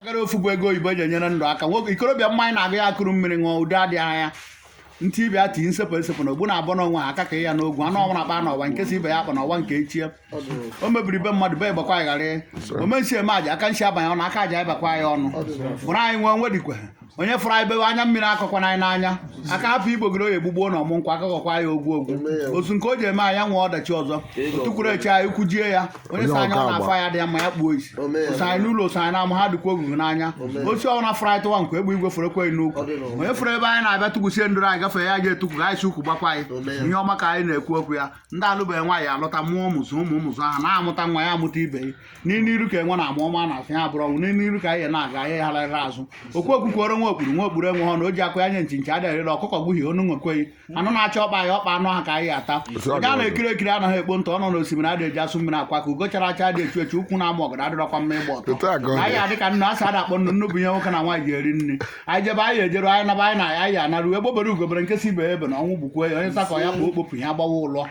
gara ofu bụ ego oyibo eji enyere ndụ aka nwoke ikorobịa mmanya na-agụ ya ekuru mmiri ṅụọ ụdị adịghị anya ntị ibe ya tii nsepụ esepụ na ogbu na-abụ n'onwe ha aka ka ya n'ogwu anụ ọnwa na-akpa n'ọwa nke sị ibe ya akpana ọwa nke echie o mebiri be mmadụ be gbakwa ya aghara ome nsị eme aja aka nsị abanye ọnụ aka aja abakwa ya ọnụ fụrụ anyị wee iwe dikwe onye fụrụ anyị bewe anya mmiri akọkwana ya n'anya aka hapụ igbogoro oyi egbugbuo na ọmụ nkwụ aka kọkwa ya ogwu ogwu otu nke o ji eme anya nwee ọdachi ụzọ o tukwuru eche anyị ukwu jie ya onye sị anya ọ na-afụ anyị adị ya mma ya kpuo isi oso anyị n'ụlọ oso anyị n'ama ha dịkwa ogwugwu n'anya osi ọnwụ na fụrụ anyị tụwa nkwa egbe igwe fụrụ ekweghị n'ukwu onye fụrụ ebe anyị na-abịa tukwusie ndụrụ anyị gafee ya ji etukwu ka anyị si ukwu gbakwa anyị ihe ọma ka anyị na-ekwu okwu ya ndị alụbeghị nwaanyị alụta mụọ ụmụ zụọ ụmụ ụmụ zụọ ha na-amụta nwa ya amụta ibe ya n'iru iru ka enwe na-ama ọ maa n'azụ ya bụrụ ọnwụ n'iru iru ka anyị na-aga anyị aghara ala azụ okwu okwukwere nwa okpuru nwa okpuru enwe ha na o ji akwụ ya nye nchi nchi adịghị arị elu ọkụkọ gbuhi onu nwekweghị anụ na-achọ ọkpa anyị ọkpa anụ ha ka anyị ata onye a na-ekiri ekiri anaghị ekpo ntụ ọ nọ na osimiri adịghị eji asụ mmiri akwọ aka ugo chara acha adị echu echu ukwu na-ama ọgọdọ adịrọkwa mma ịgba ọtọ anyị adị ka nnu asị ada akpọ nnu nnu bụ ihe nwoke na nwaanyị ji eri nri anyị jebe anyị ejeru anyị naba anyị na anyị anaru egbe bere ugo bere nke sị ibe ebena ọnwụ gbukwe ya onye sakọ ya kpụ okpopụ ya gbawa ụlọ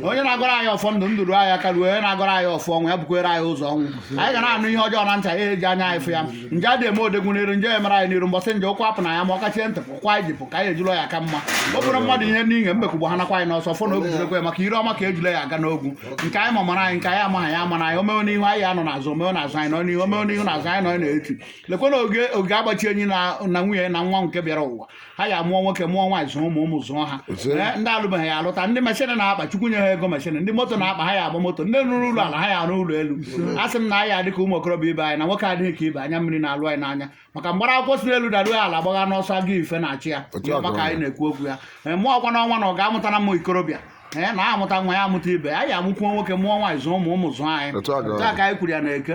onye na-agọrọ anyị ọfọ ndụ ndụ ruo anyị aka ruo onye na-agọrọ anyị ọfọ ọnwụ ya bukwere anyị ụzọ ọnwụ anyị ga na-anụ ihe ọjọọ na ntị anyị eji anya anyị fụ ya nje adị eme odogwu n'iru nje emere anyị n'iru mbọsị nje ụkwụ apụ na ya ma ọ kachie ntị pụkwa anyị jipụ ka anyị ejụlọ ya aka ma ọ bụrụ mmadụ ihe n'inye mbekugbo ha nakwa anyị n'ọsọ fụ na obi jirekwe maka ire ọma ka ejule ji aga n'ogwu nke anyị ma amara anyị nke anyị amaghị ya amara anyị o mewe n'ihu anyị anọ n'azụ o mewe n'azụ anyị nọ n'ihu o mewe n'ihu n'azụ anyị nọ n'eti lekwana oge oge agbachi enyi na na nwunye ya na nwa nke bịara ụwa ha ya mụọ nwoke mụọ nwaanyị zụọ ụmụ ụmụ zụọ ha Otu a. Ee, ndị alụbeghị ya alụta ndị machine na-akpa chukwu nye ha ego machine ndị moto na-akpa ha ya agba moto ndị rụrụ ụlọ ala ha ya arụ ụlọ elu a sị m na anyị adị ka ụmụ okorobịa ibe anyị na nwoke adịghị ka ibe anya mmiri na-alụ anyị n'anya maka mgbara akwụkwọ si n'elu daruo ya ala gbagha n'ọsọ aga ife na-achụ ya Otu a ka ọ dị. maka anyị na-ekwu okwu ya Ee, mụọ ọkwa n'ọnwa na ọ ga-amụta na mma ikorobịa ee na amụta nwa ya amụta ibe anyị amụkwuo nwoke mụọ nwaanyị zụọ ụmụ ụmụ zụọ anyị Otu a ka ọ dị. Otu a ka anyị kwuru ya na eke